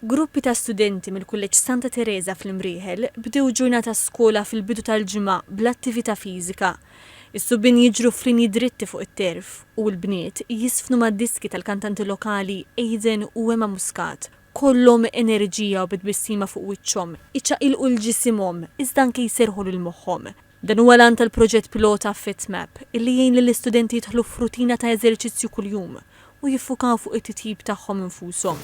Gruppi ta' studenti mill-Kulleġġ Santa Tereża fl-Imrieħel bdew ġurnata skola fil-bidu tal-ġimgħa bl-attività fiżika. Is-subien jiġru f'linji dritti fuq it-terf u l-bniet jiżfnu mad-diski tal-kantanti lokali Aiden u Emma Muscat, kollhom enerġija u bi tbissima fuq wiċċhom, iċaqilqu 'l ġisimhom iżda anke jserrħu lil moħħhom. Dan huwa l-għan tal-proġett pilota FitMap, illi jgħin lill-istudenti jidħlu f'rutina ta' eżerċizzju kuljum u jiffukaw fuq it-titjib tagħhom infushom.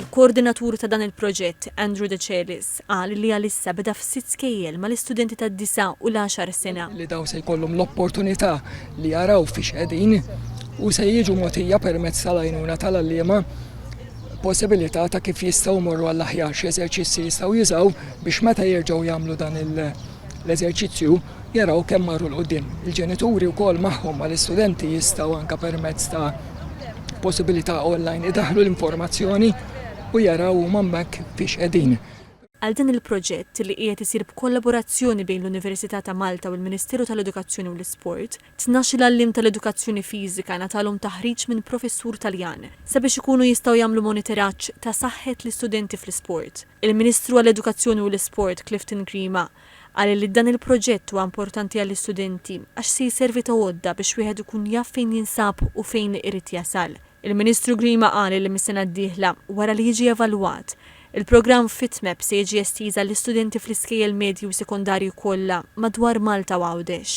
Il-koordinatur ta' dan il-proġett, Andrew Decelis, qal li għalissa beda f'sitt skejjel mal-istudenti tad-disa' u l-għaxar sena. li dawn se jkollhom l-opportunità li jaraw fiex qegħdin u se jiġu mogħtija permezz tal-għajnuna tal-għalliema possibilità ta' kif jistgħu jmorru għall-aħjar, x'eżerċizzji jistgħu jużaw biex meta jerġgħu jagħmlu dan l-eżerċizzju jaraw kemm marru 'l quddiem. Il-ġenituri wkoll magħhom mal-istudenti jistgħu anke permezz ta' possibilità online idaħħlu l-informazzjoni u jaraw huma hemmhekk fiex qegħdin. Għal dan il-proġett, li qiegħed isir b'kollaborazzjoni bejn l-Università ta' Malta u l-Ministeru tal-Edukazzjoni u l-Isport, Tnax-il għalliem tal-edukazzjoni fiżika ngħatalhom taħriġ minn professur Taljan sabiex ikunu jistgħu jagħmlu moniteraġġ ta' saħħet l-istudenti fl-isport. Il-Ministru għall-Edukazzjoni u l-Isport Clifton Grima qal li dan il-proġett huwa importanti għall-istudenti għax se jservi ta' għodda biex wieħed ikun jaf fejn jinsab u fejn irid jasal. Il-Ministru Grima qal li mis-sena d-dieħla, wara li jiġi evalwat, Il-programm FitMap se jiġi estiż għall-istudenti fl-iskejjel medji u sekondarji kollha madwar Malta u Għawdex.